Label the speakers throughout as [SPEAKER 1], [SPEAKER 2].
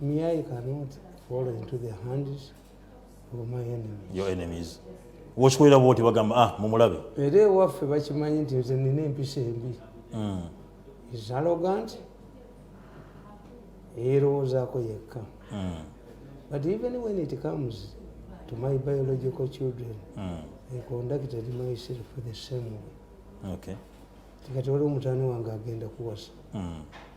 [SPEAKER 1] Me, I cannot fall into the hands of my enemies. Your enemies.
[SPEAKER 2] Wakikolera bwoti bagamba ah mumulabe. Era ewaffe
[SPEAKER 1] bakimanyi nti nze nina empisa embi. Mm. Is arrogant. Yeerowoozaako yekka. Mm. But even when it comes to my biological children, mm. I conducted myself the same way. Okay.
[SPEAKER 2] Tikati waliwo
[SPEAKER 1] mutani wange agenda kuwasa. Mm.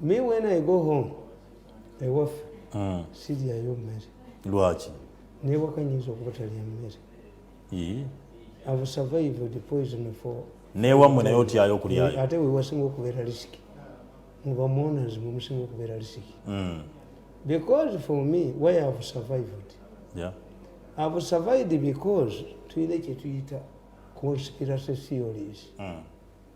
[SPEAKER 1] me when i go home ewaffe mm. siryayo mmere lwaki
[SPEAKER 2] neewaka nyinza
[SPEAKER 1] okuba talya mmere ave survived poison for newammwe naye otyayo
[SPEAKER 2] okulyayo ate wewasinga okubeera
[SPEAKER 1] lisiki mubamonas mwemusinga okubeera lisiki mm. because for me why have survived yeah.
[SPEAKER 2] have
[SPEAKER 1] survived because tuyina kyetuyita conspiracy theories mm.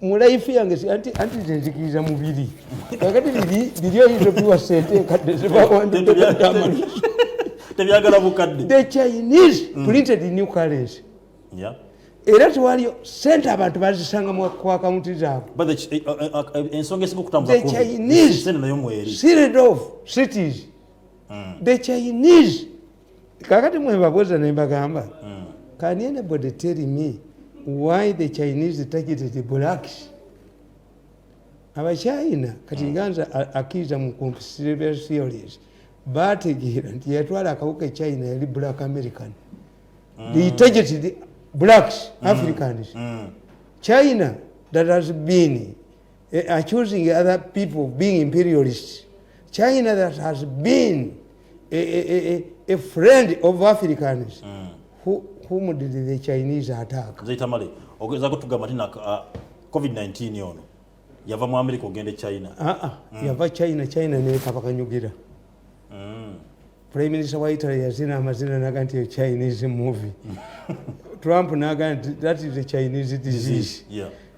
[SPEAKER 2] mu life
[SPEAKER 1] yange anti anti nzikiriza mubiri kakati biri biri oyinza obiwa sente enkadde zebawanditebyagamani tebyagala
[SPEAKER 2] bukadde the chinese
[SPEAKER 1] mm. printed new currency yeah.
[SPEAKER 2] era tewaliyo
[SPEAKER 1] sente abantu bazisanga ku akawunti
[SPEAKER 2] zaabweensongaesingaokutambuzasirdof
[SPEAKER 1] cities mm. the chinese kakati mwebabuuza nembagamba hmm. can anybody tell me why the chinese targeted blacks abachina kati hmm. ganza akiza mu conspiracy theories bategeera nti yatwala akawuka echina yali black american mm. they targeted blacks mm. africans mm. china that has been Eh, accusing other people of being imperialists. China that has been a, a, a, a friend of Africans. Mm. Who, whom did the Chinese attack? Zaitamale, ogeza
[SPEAKER 2] kutugamba tina uh, COVID-19 yono. Yava mu America ogende China. Ah ah, mm. yava
[SPEAKER 1] China, China ne kabaka nyugira. Mm. Prime Minister wa Italy yazina amazina naga nti Chinese movie. Trump naga that is a Chinese disease. disease. Yeah.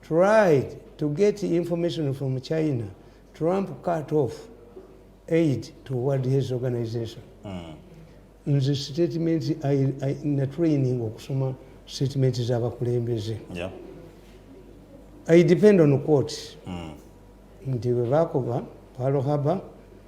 [SPEAKER 1] tried to get information from China, Trump cut off aid to World Health Organization. Mm. Nze statement na training okusoma statement z'abakulembeze.
[SPEAKER 2] Yeah.
[SPEAKER 1] I depend on court. Mm. Nti bwe baakuba Pearl Harbor,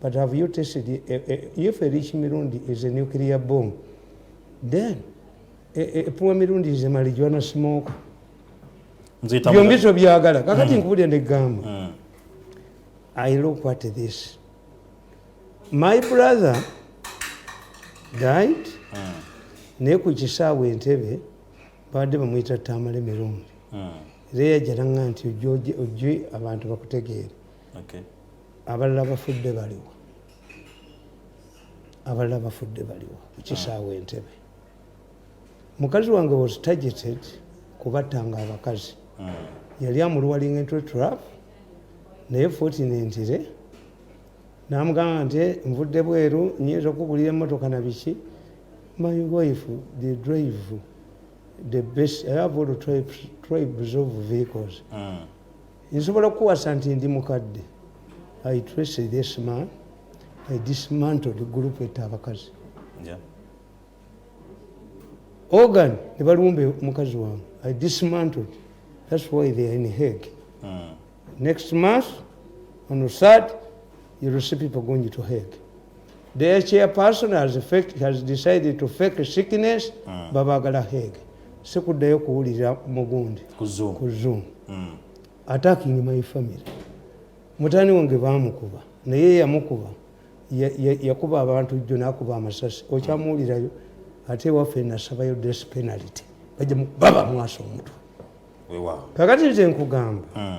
[SPEAKER 1] But have you tested it? Eh, eh, if a rich Mirundi is a nuclear bomb, then a, a poor Mirundi is a marijuana smoke. byombi tobyagala kakati hmm. nkubulira negamba hmm. i look at this my brother died hmm. naye ku kisaawe entebe baadde bamuyita tamale mirundi era yajalaga nti ojje abantu bakutegeere abalala bafudde baliwa abalala bafudde baliwa ekisaawa entebe mukazi wange was targeted kubattanga abakazi hmm. yali amulwalinga entwe trap naye fotinentire namugamba nti eh, nvudde bweru nyinza okubulira emotoka na biki my wife the drive the best i have all tribes of vehicles mm. nsobola okukuwasa nti ndi mukadde i trace this man i dismantled group etta abakazi organ ne balumba omukazi wange i dismantled that's why they are in heg mm. next month on third You will see people going to hell. Their chairperson has, fake, has decided to fake sickness mm. babagala heg sikuddayo kuwulira mugundi ku zoom mm. attacking my family mutani wange bamukuba naye yamukuba yakuba abantu jjo nakuba amasasi okyamuwulirayo ate waffe nasabayo des penalty bajja baba mwasa omutwe kakati nze nkugamba mm.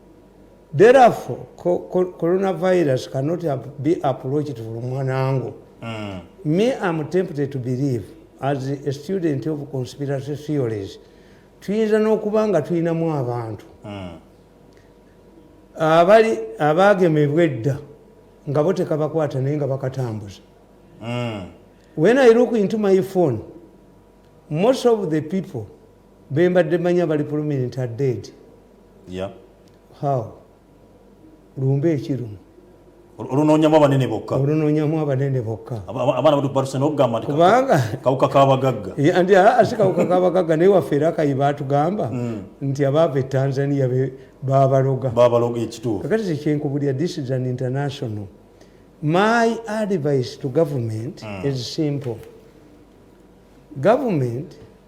[SPEAKER 1] therefore coronavirus cannot be approached from one angle mm. me am tempted to believe as a student of conspiracy theories tuyinza n'okuba nga tulinamu abantu mm. abali abaagemebwa edda nga bo tekabakwata naye nga bakatambuza mm. when i look into my phone most of the people bembadde manya bali prominent are dead yeah. how lumba ekirumu olunonyamu
[SPEAKER 2] abanene bokka olunonyamu abanene bokka abaana batu baruse nokugamba nti kubanga kawuka kabagagga nti asi kawuka
[SPEAKER 1] kabagagga naye waffe era kayi batugamba mm. nti abaava e tanzania babaloga babaloga ekituufu
[SPEAKER 2] kakati tekyenkubulira
[SPEAKER 1] this is an international my advice to government mm. is simple government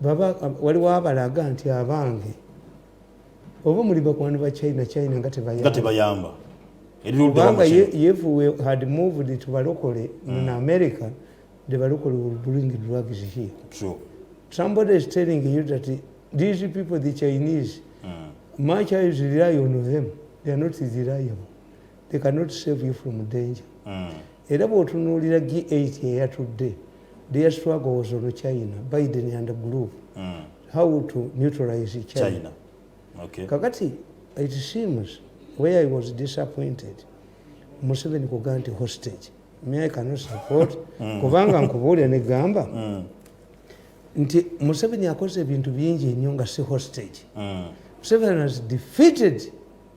[SPEAKER 1] baba waliwo abalaga nti abange oba muli bakwani ba china china nga tebayamba kubanga if we had moved to balokole in mm. america the balokole will bring drugs here True.
[SPEAKER 2] somebody is
[SPEAKER 1] telling you that these people the chinese mm. much as rely on them they are not reliable they cannot save you from danger mm. era bwotunuulira g8 eyatudde their struggle was on china biden and group mm. how to neutralize china, china. Okay.
[SPEAKER 2] kakati
[SPEAKER 1] it seems where i was disappointed museveni kuga nti hostage me i cannot support mm. kubanga nkubuulira negamba mm. nti museveni akoze ebintu bingi nnyo nga si hostage mm. museveni has defeated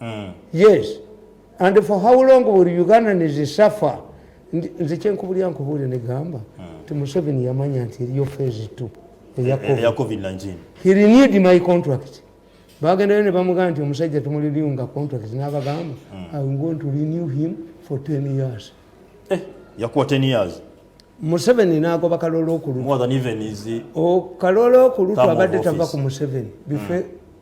[SPEAKER 1] mm. yes and for how long will ugandans suffer nze kyenkubulira nkubuulire negamba mm. nti museveni yamanya nti eriyo phase t eya eh, covid eh, he
[SPEAKER 2] renewed my
[SPEAKER 1] contract bagendayo ne bamugamba nti omusajja tumuliriunga contract nabagamba mm. i going to renew him for 10 years eh, yakuwa
[SPEAKER 2] 10 years museveni
[SPEAKER 1] nagoba kalolo okulutkalolo
[SPEAKER 2] oh, okulutwa
[SPEAKER 1] abadde tava ku museveni bife mm.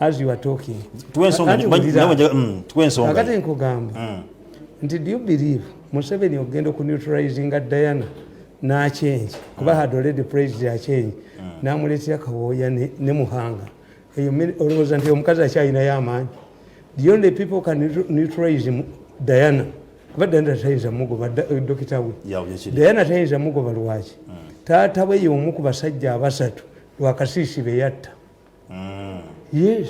[SPEAKER 1] as you are talking tuwe ensonga Kati nti- wulira. nawe njaga- mm, tuwe ensonga kakati nkugamba Mm. nti do you believe museveni okugenda oku neutralizinga diana n'akyengi kuba had already praised akyengi n'amuleetera kawooya ne- ne muhanga eyo mi- olowooza nti omukazi akyalinayo amaanyi the only people can neutr- neutralize mu- diana kuba diana tayinza mugoba da- eh, dokita we Ya, byekiri. diana tayinza mugoba lwaki taata we y'omu ku basajja abasatu lwakasiisi be yatta mm. yes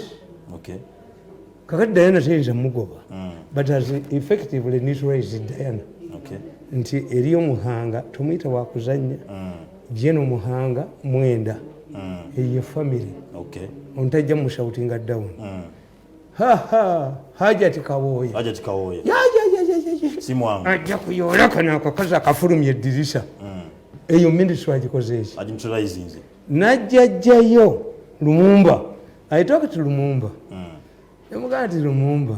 [SPEAKER 2] okay kakati
[SPEAKER 1] diana teyinza mugoba mm. but as effectively neutralize diana okay. nti
[SPEAKER 2] eriyo
[SPEAKER 1] muhanga tomuyita wakuzanya mm. jeno muhanga mwenda mm. eyo family okay. ontajja
[SPEAKER 2] mushoutinga
[SPEAKER 1] down mm. hajati kawoya hajati kawoya ya, ya, ya, ya, ya, ya.
[SPEAKER 2] simwangu ajja kuyola kano
[SPEAKER 1] akakazi akafulumya eddirisa mm. eyo ministry agikoze eki agimutulaizinze najjajjayo lumumba i talk to lumumba mm. nemugaa nti lumumba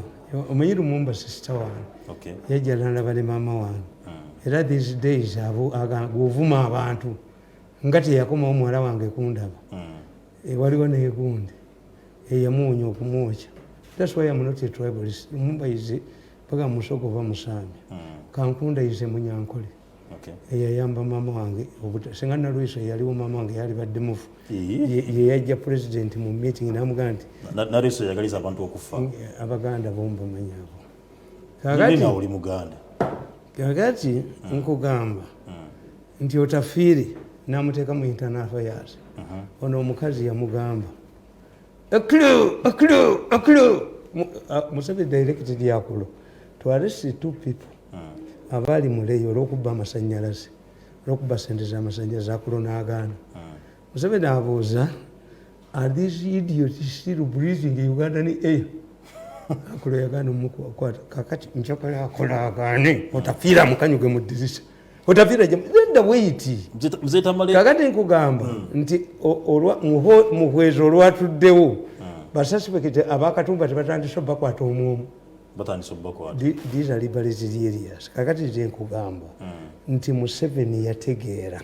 [SPEAKER 1] omanyi lumumba sister wange okay. yajjalanaba ne maama wange mm. era these days agovuma abantu nga teyakomawo muwala wange kundaba mm. e, waliwo negundi eyamuwunya okumwokya thats why am not a tribalist lumumba ize paka musoko va musambi mm. kankunda ize munyankole eyayamba maama wange singa nalweso eyaliwo maama wange yalibadde mufu yeyajja pulezidenti mu meeting namugamba nti nalweso yagaliza
[SPEAKER 2] abantu okufa abaganda bomu
[SPEAKER 1] bamanyi abo kakati
[SPEAKER 2] muganda kakati
[SPEAKER 1] hmm. nkugamba hmm. nti otafiire namuteeka mu internal affairs uh-huh. ono omukazi yamugamba A clue, a clue, a clue. Uh, Museveni directed Yakulo to arrest the two people hmm. abaali muleyo olwokubba amasanyalaze olwokubba sente zamasanyalaze akulo n'agaana hmm. Museveni abuuza are these idiots still breathing in Ugandan air akulo yagaana omukwata kakati njakola akola agaane otafiira mukanyuge mu dirisa kakati nkugamba hmm. nti muhwezi olwatuddewo hmm. basasipekite abakatumba tebatandise obakwata omwomu kakati nze nkugamba hmm. nti museveni yategeera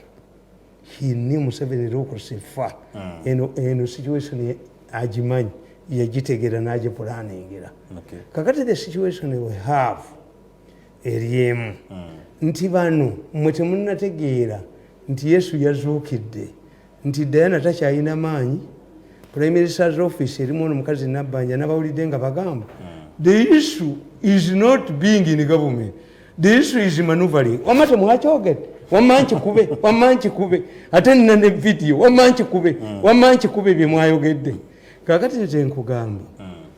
[SPEAKER 1] hini museveni lokusifa eno situation agimanyi yagitegeera nagipulaningira kakati the situation we have eryemu hmm. nti bano mwe temunategeera nti yesu yazuukidde nti dayana takyalina maanyi primary sars office erimu ono mukazi nabbanja nabawulidde nga bagamba hmm. the issue is not being in government the issue is manuvaling wama temwakyogede wama nkikube wama nkikube ate nina ne vidiyo wama nkikube hmm. wama nkikube byemwayogedde kakati nze nkugamba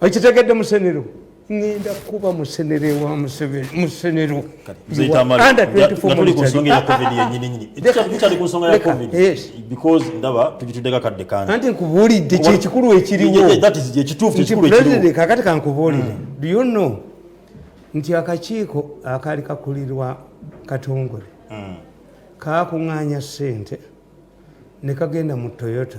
[SPEAKER 1] okitegedde musenero ngenda kuba musenere wa musenero
[SPEAKER 2] anti nkubuulidde
[SPEAKER 1] kyekikulu ekiriwokakati
[SPEAKER 2] eh, eh,
[SPEAKER 1] kankubuulire mm. do you know nti akakiiko akaali kakulirwa katongole mm. kakuŋŋaanya ssente ne kagenda mu toyota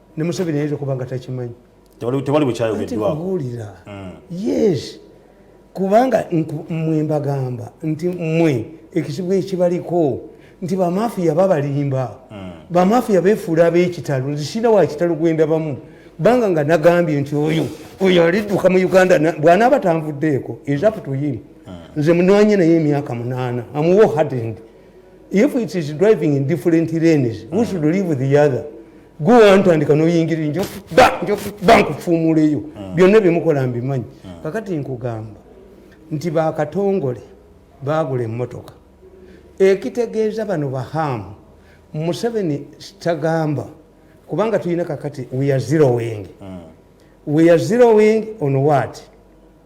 [SPEAKER 1] ne museveni ayinza okuba nga takimanyi tewali
[SPEAKER 2] bwekyayogeddwawulira mm.
[SPEAKER 1] yes kubanga mwe mbagamba nti mwe ekizibu ekibaliko nti bamafiya babalimba mm. bamafiya befuula abekitalo nzisina wakitalo gwendabamu banga nga nagambye nti oyo oyo alidduka mu uganda bwanaaba tanvuddeeko ezaputuyimu nze munwanye naye emyaka munaana amuwa ohadend if it is driving in different lanes who should live with the other go antandika noyingirira njoba nkufuumuleyo ah. byonna byemukola mbimanyi ah. kakati nkugamba nti bakatongole bagula emotoka ekitegeeza bano bahamu museveni kitagamba kubanga tulina kakati weare zero wing ah. weare zero wing on wat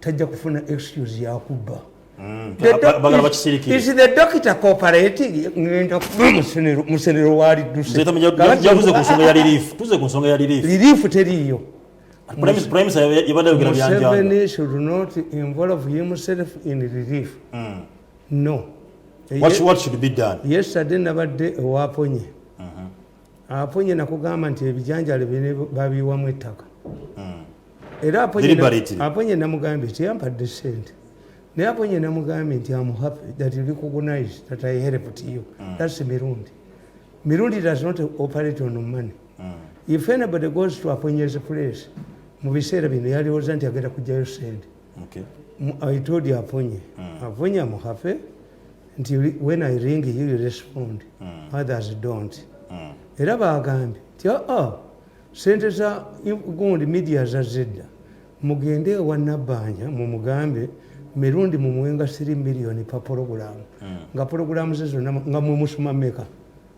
[SPEAKER 1] tajja kufuna excuse yakubba mm. musenero walidusrelifu teriyo yesterday
[SPEAKER 2] nabadde
[SPEAKER 1] ewaponye mm-hmm. aponye nakugamba nti ebijanjalo bine babiwamu ettaka hmm. era aponye namugambye teyampadde sente naye aponye namugambye nti am happy that you recognize that i helped you hmm. thats mirundi mirundi does not operate on money hmm. if anybody goes to aponyes place mu biseera bino yalowooza nti agenda kujjayo sente i told you aponye aponye am happy nti when i ring you, you respond mm. others don't mm. era bagambye nti aa ah, ah, sente za gundi media zazidda mugende ewa nabbanja mumugambe mirundi mumuwenga 3 million pa pologulamu mm. nga pologulamu ze zonna nga mwemusoma meka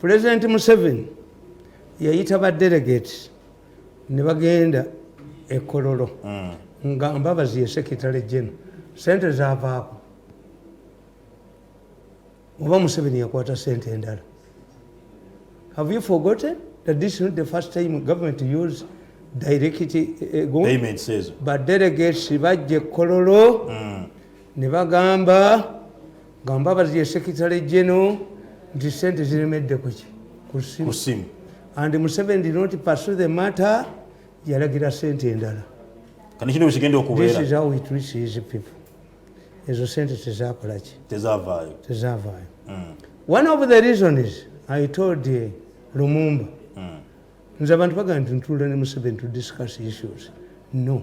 [SPEAKER 1] pulezidenti museveni yayita badelegate ne bagenda ekololo hmm. nga mbabazi yesekitale jeno sente zavaako oba museveni yakwata sente endala have you forgotten that this is not the first time government to use direct eh,
[SPEAKER 2] eh, badelegates
[SPEAKER 1] bajja ekololo hmm. ne bagamba nga mbabazi ye secretary general nti sente ziremedde kuki kusimu and museven did not pursue the matter yalagira sente endala ezo sente tezakolaki tezavaayo tezavaayo mm. one of the reasons i told eh, lumumba mm. nze abantu bagamba nti ntuula ne museven to discuss issues no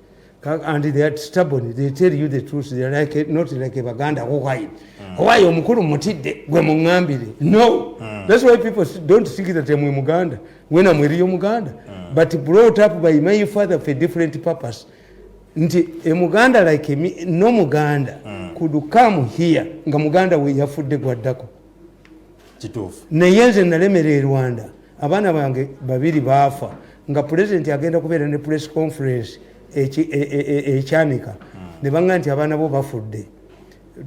[SPEAKER 1] and they are stubborn they tell you the truth they are like a, not like a baganda who hide mm. why omukulu mutidde gwe mungambire no mm. that's why people don't think that I'm a muganda when I'm real muganda mm. but brought up by my father for a different purpose nti a e muganda like me no muganda mm. could come here nga muganda we yafudde gwaddako kituufu
[SPEAKER 2] naye nze
[SPEAKER 1] nalemera e rwanda abaana bange babiri baafa nga pulezidenti agenda kubeera ne press conference e, e, ekyanika hmm. ne baŋga nti abaana bo bafudde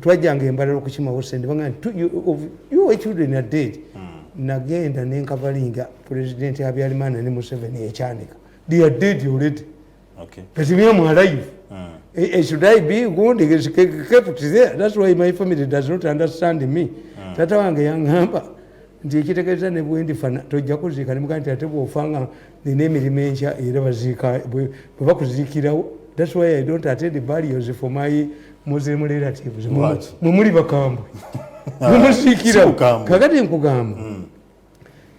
[SPEAKER 1] twajjanga embalala okukimawo sente baŋga nti your children are dead hmm. nagenda nenkavalinga pulezidenti abyalimaana ne museveni ekyanika they are dead already Okay. But me,
[SPEAKER 2] I'm
[SPEAKER 1] alive. Mm. Uh, should I be wounded? She kept there. That's why my family does not understand me. Mm. Tata wange yangamba nti ekitegeeza ne bwendifana tojja kuziika nemuga nti ate bwofa nga nina emirimu enkya era baziika bwe bakuziikirawo thats why i don't attend barriers for my muslim relatives mwe muli bakambwe mumuziikirawo kakati nkugamba mm.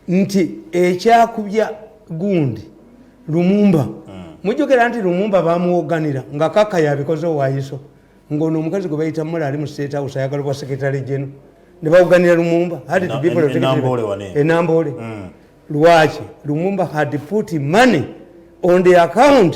[SPEAKER 1] nti ekyakubya gundi lumumba hmm. mujjukira nti lumumba bamuwoganira nga kaka yabikoze owayiso ngaono omukazi gwe bayita mula ali mu state house ayagala bwa secretary geno ne bawoganira lumumba enamboole hmm. lwaki lumumba had put money on the account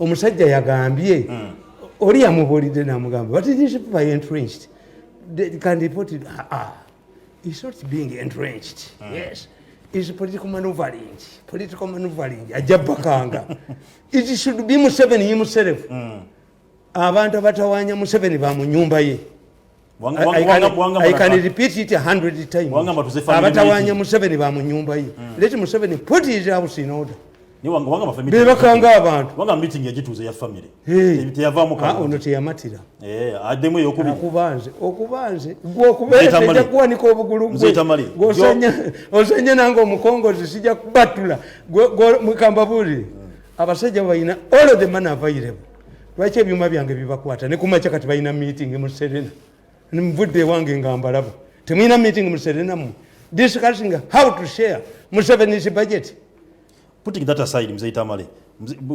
[SPEAKER 1] omusajja yagambye hmm. oli yamubuulidde namugamba but these people are entrenched they can report it ah, ah. it's not being entrenched mm. yes is political maneuvering political maneuvering ajja bakanga it should be museveni himself mm. abantu abatawanya museveni ba mu nyumba ye abatawanya museveni ba mu nyumba ye hmm. leti museveni put his house in order bebakanga
[SPEAKER 2] abantuono
[SPEAKER 1] teyamatira
[SPEAKER 2] okubanze okubanze
[SPEAKER 1] gwokubeeja kuwanika obugulu gwe ozanya nange omukongozi sija kubatula gwe mukambabulire hmm. abasajja balina all the man available lwaki ebyuma byange bibakwata ne kumakya kati balina meeting mu serena nvudde ewange nga mbalaba temulina meeting mu serena mu discussing how to share musevenis budget putting that
[SPEAKER 2] aside mzee tamale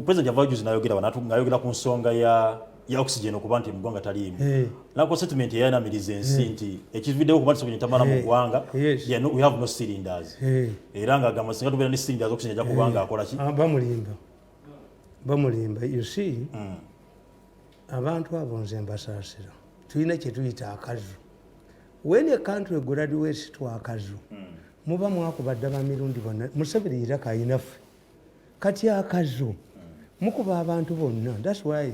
[SPEAKER 2] president yava juzi nayogera banatu ngayogera ku nsonga ya ya oxygen okuba nti mugwanga taliimu hey. Eh. nako statement yayanamiriza ensi hey. Eh. nti ekivideo kuba ntisokenya tamala hey. Eh. mugwanga yes. yeah, no, we have no cylinders hey. era nga agamba singa tubeera ne cylinders oxygen aja kubanga hey. akola ki ah, bamulimba
[SPEAKER 1] bamulimba you see mm. abantu abo nze mbasaasira tulina kyetuyita akazu when a country graduates to akazu mm. muba mwakuba dda bamirundi bonna museveni yira kayinaffe kati akazu mm. mukuba abantu bonna thats why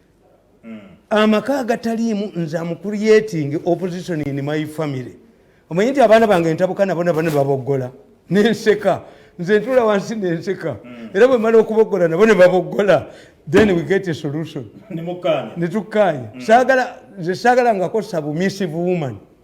[SPEAKER 1] mm. amaka agataliimu nze amucreating opposition in my family omanyi nti abaana bange ntabuka nabo nabo nebaboggola nenseka nze ntula wansi nenseka mm. era bwemala okuboggola nabo nebaboggola then we get a solution netukkaanya mm. saagala nze saagala ngakosa bumisive woman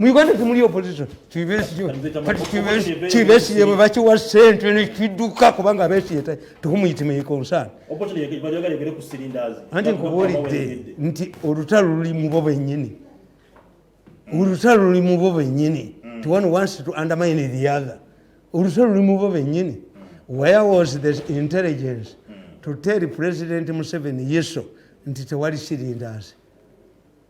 [SPEAKER 1] mu uganda temuli opposition kibesiye bwe bakiwa sente nekidduka kubanga abesiye tohumuyitimeikonsana anti nkubuulidde nti olutalo luli mubo benyini olutalo luli mubo benyini mm. ti one wants to undermine the other olutalo luli mubo benyini where was the intelligence mm. to tell president museveni yeso nti tewali sirindazi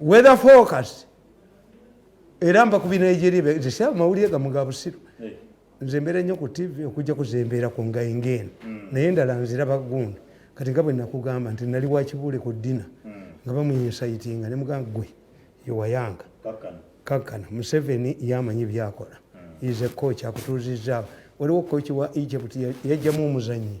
[SPEAKER 1] weather forecast era mba kubi nigeria zisa amawulire gamu ga busiru eh. nze mbeera nnyo ku tv okujja kuzembeera ku ngaingeeno hmm. naye endala nziraba gundi kati nga bwe nakugamba nti nali wakibuule ku ddina hmm. nga bamuyinsayitinga ne mugamba gwe yewayanga kakkana museveni yamanyi byakola hmm. ize koki akutuuzizaawo waliwo koki wa egypt yajjamu omuzanyi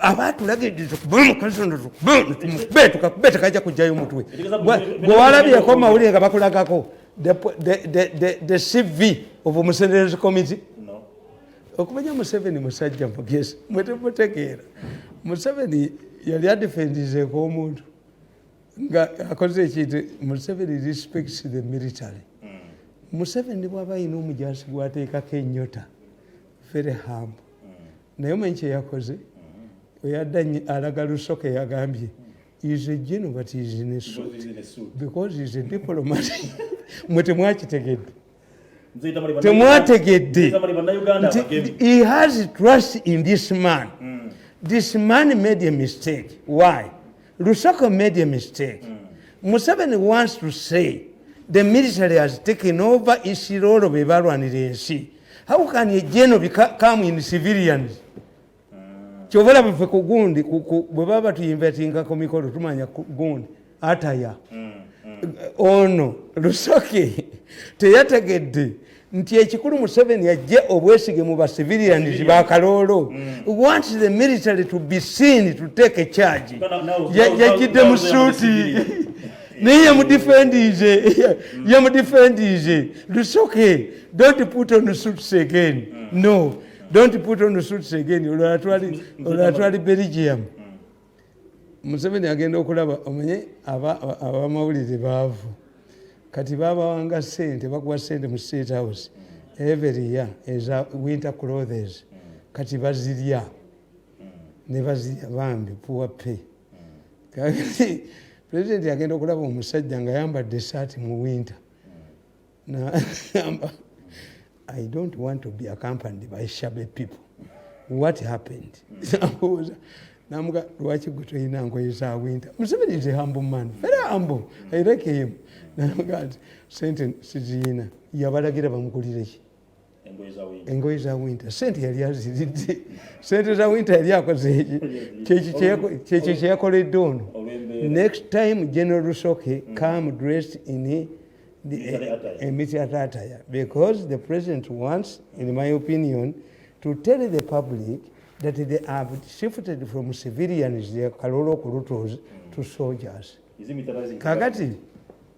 [SPEAKER 1] abatulagiriza okuba omukazi ono tukube tukakube tekajja kujjayo omutwe gwe walabyeko mawulire nga bakulagako the cv of omusenderezi committee okumanya museveni musajja mugezi mwetemutegeera museveni yali adifendizeeko omuntu nga akoze ekintu museveni respects the military mm. museveni bwaba ayina omujaasi gwateekako enyota very humble naye omanyi kyeyakoze oyadda alaga lusoka eyagambye is a geno but is in a suit because is a diplomat mwe temwakitegedde temwategedde he has trust in this man mm. this man made a mistake why Lusaka made a mistake. Mm. Museveni wants to say the military has taken over Isirolo be balwanira ensi. How can a general become in civilians? Mm. Kyova laba fe ku gundi bwe baba tuyinvetinga ku mikolo tumanya ku gundi ataya. Mm. Mm. Ono Lusaka teyategedde nti ekikulu museveni ajje obwesige mu basiviliyanizi ba kaloolo mm. wants the military to be seen to take a charge yajjidde mu suuti naye yamudifendize mm. yamudifendize lusoke don't put on suits again mm. no don't put on suits again olwala twali belgium museveni agenda okulaba omenye abamawulire baavu kati babawanga sente bakuwa sente mu state house every year eza winter clothes kati bazirya nebazirya bambi poor pay kati president agenda okulaba omusajja nga yambadde esaati mu winter nagamba i don't want to be accompanied by shabe people what happened namubuuza namuga lwaki gwe tolina ngoye za winter museveni is a humble man very humble i like him namuga nti sente siziyina yabalagira bamugulireki engoye za winta sente yali aziridde sente za winta yali akozeeki kyekyo kyeyakoledde ono next time general rusoke mm. come dressed in emiti atataya because the president wants in my opinion to tell the public that they have shifted from civilians kalolo kulutos to soldiers kakati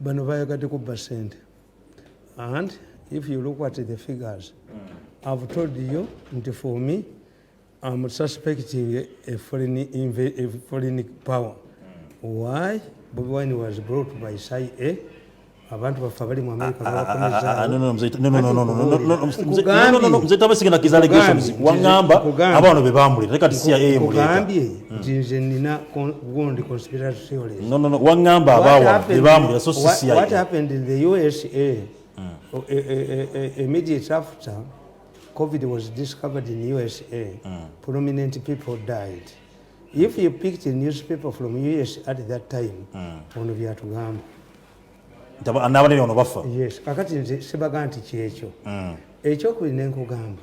[SPEAKER 1] bano bayagadde kubba sente and if you look at the figures i've told you nti for me am suspecting a foreign, a foreign power why bobi wine was brought by cia abantu baffe abali mu amerika babakomezaaokugambyemzee
[SPEAKER 2] tabasigena kizalegations wangamba abaano be bamulira nekati cia emuleeta nti
[SPEAKER 1] nze nina gundi conspiracy theories no no no wangamba
[SPEAKER 2] abawa bebamu yaso sisi what happened in the
[SPEAKER 1] usa mm. o, e, e, e, e, immediate after covid was discovered in usa mm. prominent people died if you picked a newspaper from us at that time mm. ono byatugamba
[SPEAKER 2] nabanene ono bafa yes kakati nze
[SPEAKER 1] sibaga nti kyekyo mm. ekyokubiri nenkugamba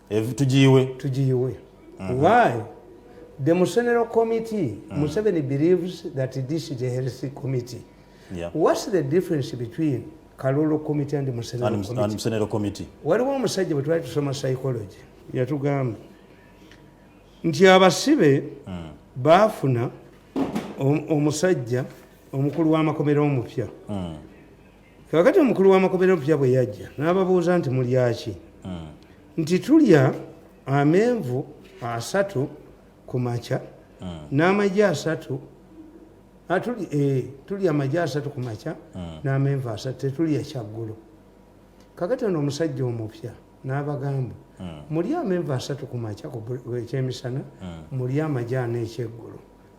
[SPEAKER 1] tugiyiwe tugiyiwe mhm. why the musenero committee mm. museveni believes that this is a healthy committee yeah. what's
[SPEAKER 2] the difference
[SPEAKER 1] between kalulu committee and musenero committee waliwo omusajja bwe twali tusoma psychology yatugamba nti abasibe mm. baafuna omusajja omukulu w'amakomera omupya mm. kakati omukulu w'amakobera opya bwe yajja n'ababuuza nti mulyaki hmm. nti tulya amenvu asatu ku makya hmm. n'amagi asatu ah, eh, tulya amagi asatu ku makya hmm. n'amenvu asatu tetulya kyaggulu kakati ono omusajja omupya n'abagamba mulya amenvu asatu ku makya ekyemisana mulya amagi ana ekyeggulo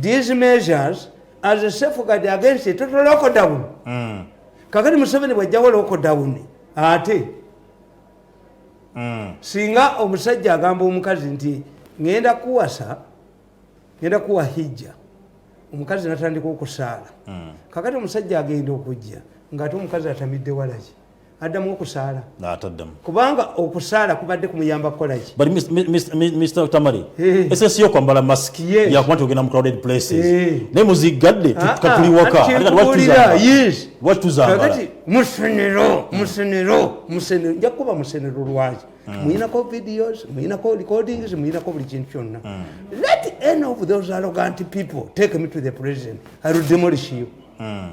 [SPEAKER 1] These measures as a safeguard against a total lockdown. Mm. Kakati Museveni bwajjawo lockdown ate mm. singa omusajja agamba omukazi nti ngenda kuwasa ngenda kuwa hijja omukazi natandika okusaala mm. kakati omusajja agenda okujja ngaate omukazi atamidde walaki addamu okusaala nataddamu kubanga okusaala kubadde kumuyamba kukolaki but
[SPEAKER 2] mr tamari eh. esesi yo kwambala mask yakuba nti ogenda mu crowded places eh. naye muzigadde katuli ah, ah. waka watuzambalaati musenero musenero musenero nja kukuba musenero lwaki hmm. muyinako videos muyinako recordings muyinako buli kintu kyonna hmm. let any of those arrogant people take me to the president i will demolish you mm.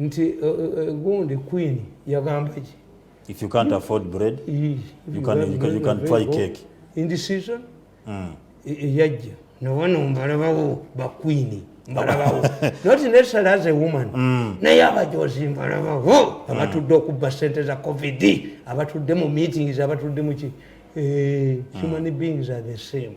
[SPEAKER 1] nti eh, eh, eh, gundi queen yagamba ki if you can't
[SPEAKER 2] afford bread you can, you can, you can try cake in this season
[SPEAKER 1] mm. yajja nowano mbalabawo bakwini mbalabawo not necessarily as a woman mm. naye abajozi mbalabawo mm. abatudde okubba sente za covid abatudde mu meetings abatudde muki human beings are the same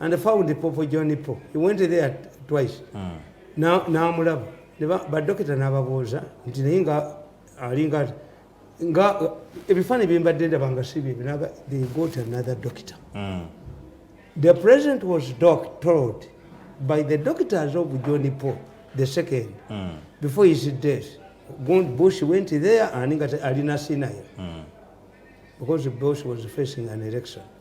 [SPEAKER 1] and found popo john po he went there twice hmm. namulaba badokita nababuuza nti naye nga alinga nga ebifaananyi byembadde ndaba nga si byebi naga they got another doctor hmm. the president was doc told by the doctors of john po the second hmm. before his death bush went there aninga alina sinayo because bush was facing an election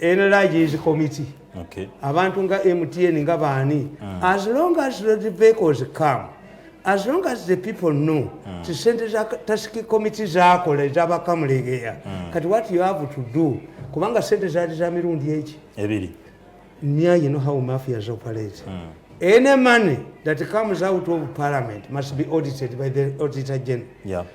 [SPEAKER 1] nlg is committee okay. abantu
[SPEAKER 2] nga
[SPEAKER 1] mtn nga baani mm. as long as the vehicles come as long as the people know mm. ti sente za tasiki committee zakola ezabakamulegeya mm. kati what you have to do kubanga sente zali za mirundi eki ebiri
[SPEAKER 2] mia you
[SPEAKER 1] know how mafias operate mm. any money that comes out of parliament must be audited by the auditor general yeah.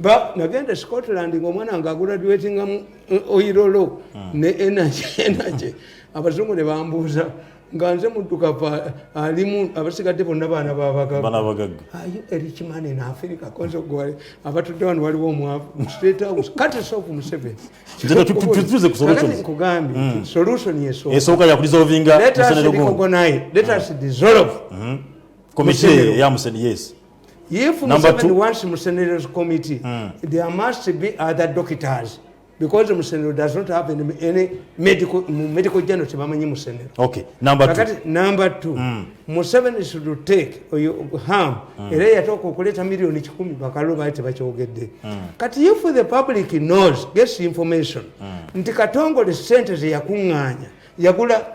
[SPEAKER 1] ba nagenda scotland nga omwana wange aguraduatinga mu eh, oirolo hmm. ne energy energy abazungu ne bambuuza nga nze muddukavu alimu abasigadde bonna baana babagagga ayo erikimani naafirika kozogwale abatudde wano waliwo omwavu state house kati sofu museveni
[SPEAKER 2] nkugambye hmm. solution
[SPEAKER 1] esooka yakulizovinga
[SPEAKER 2] musenero gumu
[SPEAKER 1] let us hmm. dissolve committee
[SPEAKER 2] ya museni yes If Museveni
[SPEAKER 1] wants Musenero's committee, mm. there must be other doctors because Musenero does not have any, any medical, medical journal to Mamani Musenero. Okay, number two. Kakati,
[SPEAKER 2] number two, mm.
[SPEAKER 1] Museveni should take or you harm, mm. ere ya toko kuleta milioni chikumi bakalu baite bache ugede. Mm. Kati if the public knows, gets information, mm. nti katongo the centers ya kunganya, ya kula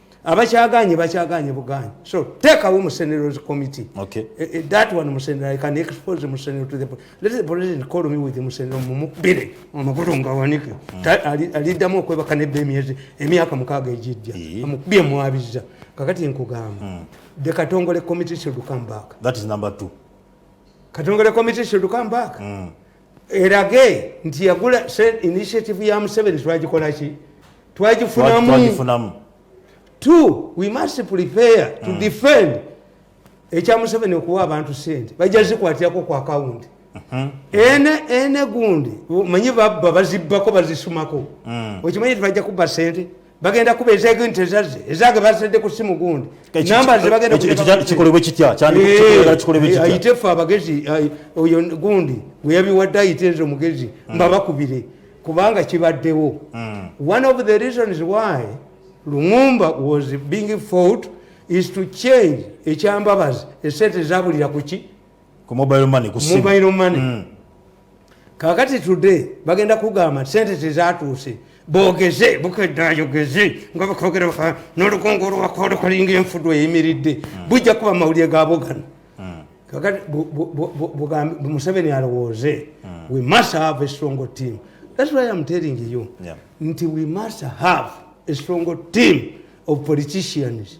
[SPEAKER 1] abakyaganye bakyaganye buganye so take away musenero's committee okay. uh, uh, that one musenero i can expose musenero to the let the president call me with musenero mumukubire amakulu nga wanike mm. aliddamu okwebaka nebba emyezi emyaka mukaaga egijja yeah. amukubye mwabiza kakati nkugamba mm. the katongole committee should come back that is number two
[SPEAKER 2] katongole
[SPEAKER 1] committee should come back mm. erage nti yagula initiative ya museveni twagikolaki twagifunamu t we must prepare to mm. defend ekya museveni okuwa abantu sente bajja zikwatirako ku akawunti mm-hmm. ene ene gundi manyi babba bazibbako bazisumako mm. okimanyi tibajja kubba sente bagenda kuba ezege nti ezazze ezage bazadde ku simu gundi namba zebagendakikolebwe eh, kitya
[SPEAKER 2] ayite eh, ffe abagezi
[SPEAKER 1] oyo gundi gwe yabiwadde ayite nze omugezi hmm. mbabakubire kubanga kibaddewo hmm. one of the reasons why lumumba was being fought is to change ekyambabazi esente zabulira kuki ku mobile
[SPEAKER 2] money ku mobile money mm.
[SPEAKER 1] kakati today bagenda kugamba sente tezatuuse bogeze bukedde ayogeze nga bakogera baka nolukungu olwakola kalinga enfudu eyimiridde hmm. bujja kuba mawulire gabo gano hmm. kakati museveni alowooze hmm. we must have a strong team that's why am telling you nti we must have a strong team of politicians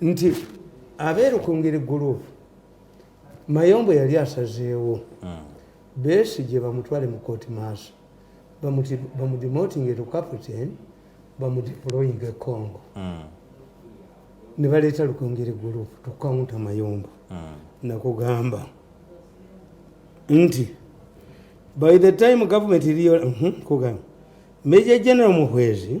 [SPEAKER 1] nti abeerukungiri guruupu mayombo yali asazeewo hmm. beesi gye bamutwale mu kooti maaso bamudimotinga eto captain bamudiploying e congo hmm. ne baleeta lukungiri guruupu tukawunta mayombo hmm. nakugamba nti by the time government iliyo mhm, kugamba meja general muhwezi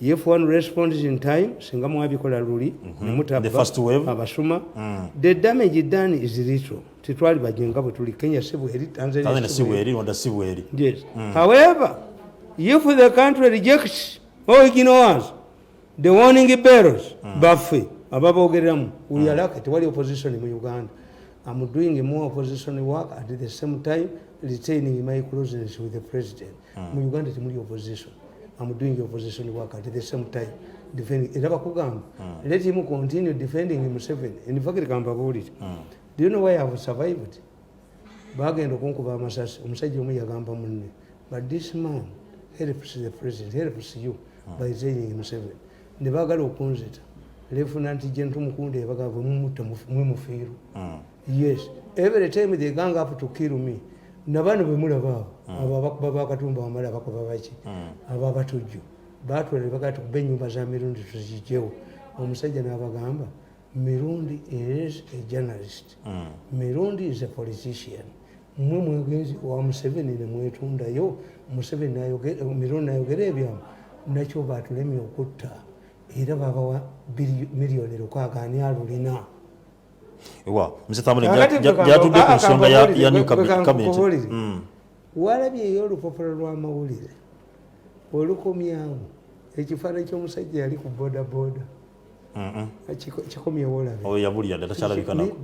[SPEAKER 1] if one responds in time singa mwabikola luli
[SPEAKER 2] mm -hmm. nemutabba abasuma mm. the
[SPEAKER 1] damage done is little titwali bajenga bwe tuli kenya sibweri tanzania sibweri rwanda sibweri yes mm. however if the country rejects or ignores the warning bells mm. baffe ababogereramu we mm. are lucky tewali opposition mu uganda i'm doing more opposition work at the same time retaining my closeness with the president hmm. mu uganda temuli opposition am doing opposition work at the same time defending era bakugamba hmm. let him continue defending museven in fact kambabuulire hmm. do you know why ihave survived bagenda okunkuba amasasi omusajja omu yagamba munne but this man helps the president helps you by saying museven ne bagala okunzita lefunanti gentu mukunda ebagava mumutta mwemufiirwa yes every time they gang up to kill me nabano bemulaba abo hmm. abo abakuba bakatumba wamala abakuba baki hmm. abo abatujju batwala nebagaa tukuba enyumba za mirundi tuzijewo omusajja nabagamba mirundi is a journalist hmm. mirundi is a politician mwe mwegenzi wa museveni nemwetundayo museveni mirundi nayogera ebyamu nakyo batulemye okutta era babawa miliyoni lukaaga ani alulina
[SPEAKER 2] ewa mzee thamule jatudde ku nsonga ya ya new cabinet mm.
[SPEAKER 1] walabye ey'olupapula lw'amawulire olukomyawo ekifaananyi ky'omusajja yali ku bodaboda kikomyewo olabe oyo yabulira dda takyalabika
[SPEAKER 2] nako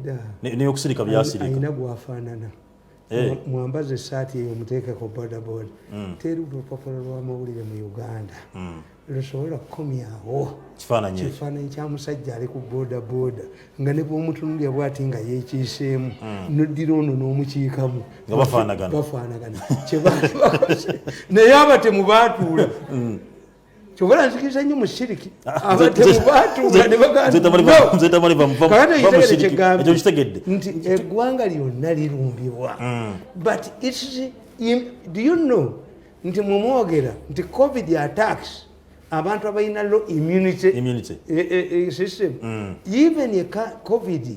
[SPEAKER 2] naye okusirika byasirika alina gwafaanana
[SPEAKER 1] Eh. mwambaze esaati eyo muteekeko bodaboda hmm. teri lupapula lwamawulire mu uganda hmm. lusobola kukomyawo kifaananyi kya musajja ali ku bodaboda nga ne bwomutunulya bwati nga yekiiseemu hmm. noddira ono n'omukiikamu
[SPEAKER 2] bafaanagana kyebaali
[SPEAKER 1] bakoze naye abatemu baatuula kyobala nzikiriza nnyo mushiriki abatemubaatuanebaganzetamanivamukitegeedde nti eggwanga lyonna lirumbibwa mm. but its do you know nti mumwogera nti covid attacks abantu abalina low immunity eh, eh, eh, system mm. even covid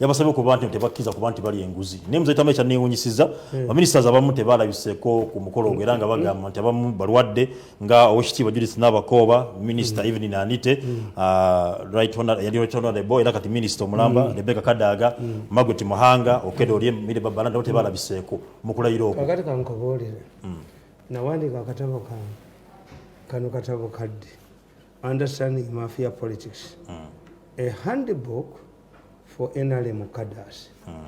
[SPEAKER 2] yabasabye okuba nti tebakkiriza kuba nti bali enguzi naye muzei tama ekyanneewunyisiza hmm. baminisiters abamu tebalabiseeko ku mukolo ogwo era nga hmm. bagamba nti abamu balwadde nga owekitiibwa judith nabakooba minisita hmm. evelyn anite uh, yali right honorable era kati minisita omulamba rebeka kadaaga margaret muhanga okeda olye mire babalanda bo tebalabiseeko mu kulayira okwo kakati kankoboolere
[SPEAKER 1] nawandiika akatabo kange kano katabo kadde understanding mafia politics a handbook for nrm cadars mm.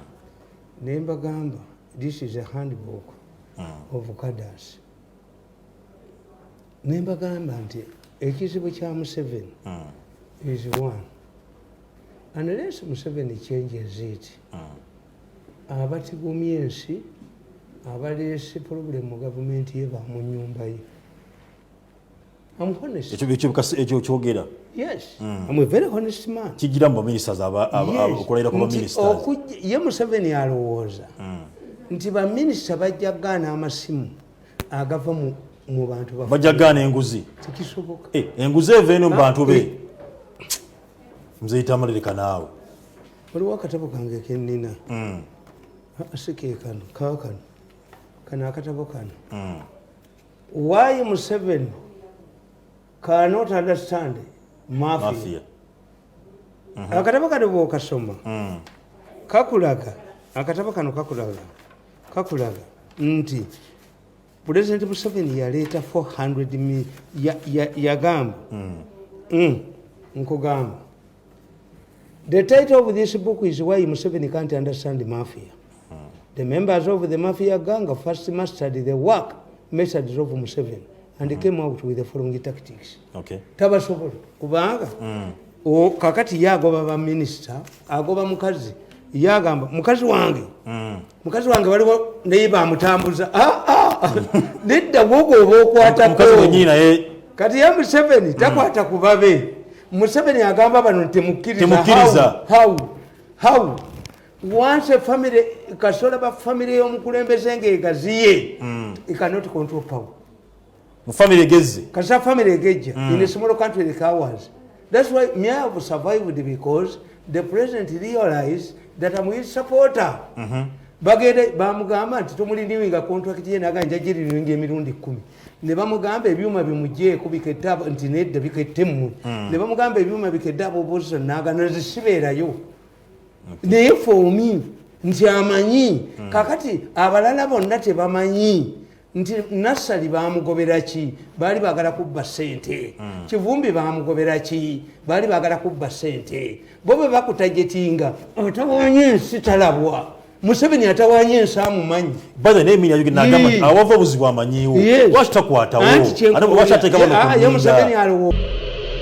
[SPEAKER 1] ne mbagamba this is a handbook mm. of cadars ne mbagamba nti ekizibu kya museveni mm. is one unless museveni changes it mm. abatigumya ensi abaleese problem mu gavumenti ye bamunyumba ye I'm honest. Ekyo ekyo bikasi ekyo kyogera.
[SPEAKER 2] Yes.
[SPEAKER 1] Mm. I'm a very honest man. Kigira mu ministers
[SPEAKER 2] aba okulayira ku ministers. Okujja ye Museveni
[SPEAKER 1] alowooza. Mm. Nti ba minister bajja gana amasimu agava mu mu bantu bafu. Bajja gana enguzi.
[SPEAKER 2] Tikisoboka. Eh,
[SPEAKER 1] enguzi eva eno
[SPEAKER 2] mu bantu be. Eh. Mzee Tamalire kanaawe. Waliwo
[SPEAKER 1] akatabo kange ke nnina. Mm. Asike kano, kaakano. Kano akatabo kano. Mm. Why Museveni cannot understand mafia? mafia. Mm -hmm. Akatabo kano bw'okasoma mm. kakulaga akatabo kano kakulaga kakulaga nti Pulezidenti Museveni yaleeta 400 yagamba ya, ya mm. mm. nkugamba The title of this book is Why Museveni Can't Understand Mafia. The members of the Mafia gang first mastered the work methods of Museveni and mm. came out with the following tactics. Okay. Tabasobola kubanga mm. o kakati yagoba ba minister agoba mukazi yagamba mukazi wange mm. mukazi wange waliwo naye bamutambuza ah, ah. nedda gwogo oba okwatako
[SPEAKER 2] kati ye
[SPEAKER 1] museveni takwata ku babe museveni agamba bano ntimukkiriza once a family kasola ba family y'omukulembeze ng'egaziye mm. ikanot control power mu family
[SPEAKER 2] egezze kasa family egejja
[SPEAKER 1] mm. in a small country like ours that's why me I have survived because the president realized that I'm his supporter mm -hmm. bagenda bamugamba nti tomuliniwinga contract ye naga njagiriringa emirundi kkumi ne bamugamba ebyuma bimujeeko bikette nti nedda bikette mmwe mm. ne bamugamba ebyuma bikedde abobosa naga nazisibeerayo naye fomi nti amanyi mm. kakati abalala bonna tebamanyi nti nassali bamugobera ki baali bagala kubba sente mm. kivumbi bamugobera ki baali bagala kubba sente bo bwe bakutajetinga atawanya ensi talabwa museveni atawanya ensi amumanyi
[SPEAKER 2] awava obuzibu amanyiwo
[SPEAKER 1] lwaki
[SPEAKER 2] takwatawomuseveni aliwo